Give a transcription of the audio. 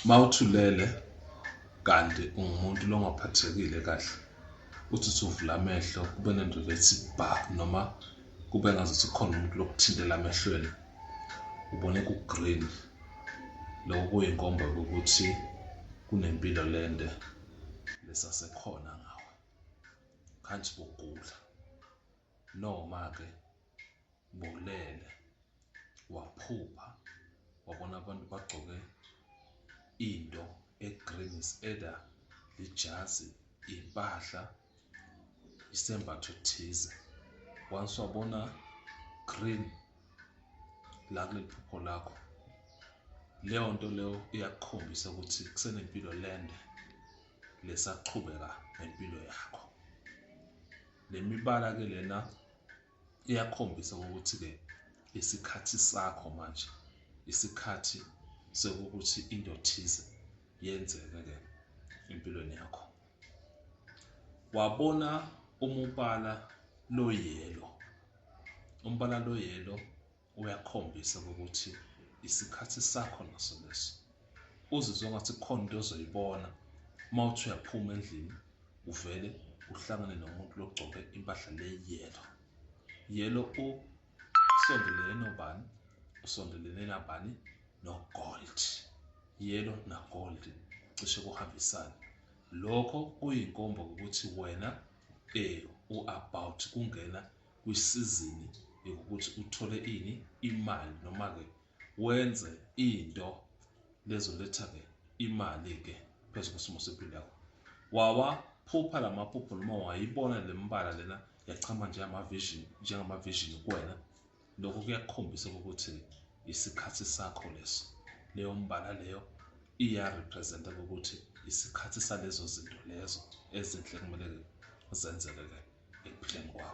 Mawuthulele kanti ungumuntu longaphathekile kahle uthi usuvula amehlo kube nento ethi ba noma kube ngazuthi khona umuntu lokuthintela amehlweni ubone ku-green lokho kuyinkomba ukuthi kunempilo lende lesasekhona ngawe khanti bogula noma-ke Ubulele waphupha wabona abantu bagcoke into egreen is either lijazi impahla isembatho thize once wabona green la kuleli phupho lakho leyo nto leyo iyakukhombisa ukuthi kusenempilo lende lesaqhubeka nempilo yakho le mibala ke lena iyakhombisa ukuthi-ke isikhathi sakho manje isikhathi sokuthi into ethize yenzeke-ke empilweni yakho wabona umubala loyelo umbala loyelo uyakhombisa ukuthi isikhathi sakho naso leso uzizwa ngathi khona into ozoyibona uma uthi uyaphuma endlini uvele uhlangane nomuntu logcoke impahla le yelo yelo usondelene nobani usondelene nabani nogold yelo nagold cishe kuhambisane lokho kuyinkomba ukuthi wena eh u-about kungena kwisizini yokuthi uthole ini imali noma ke wenze into lezoletha ke imali ke phezu kwesimo sempilo yakho wawaphupha la maphupho noma wayibona le mbala lena yachama njengama-vision njengama-vision kuwena lokho kuyakukhombisa ukuthi isikhathi sakho leso leyo mbala leyo iyarepresenta ukuthi isikhathi salezo zinto lezo ezinhle kumele zenzeke-ke ekuphileni kwakho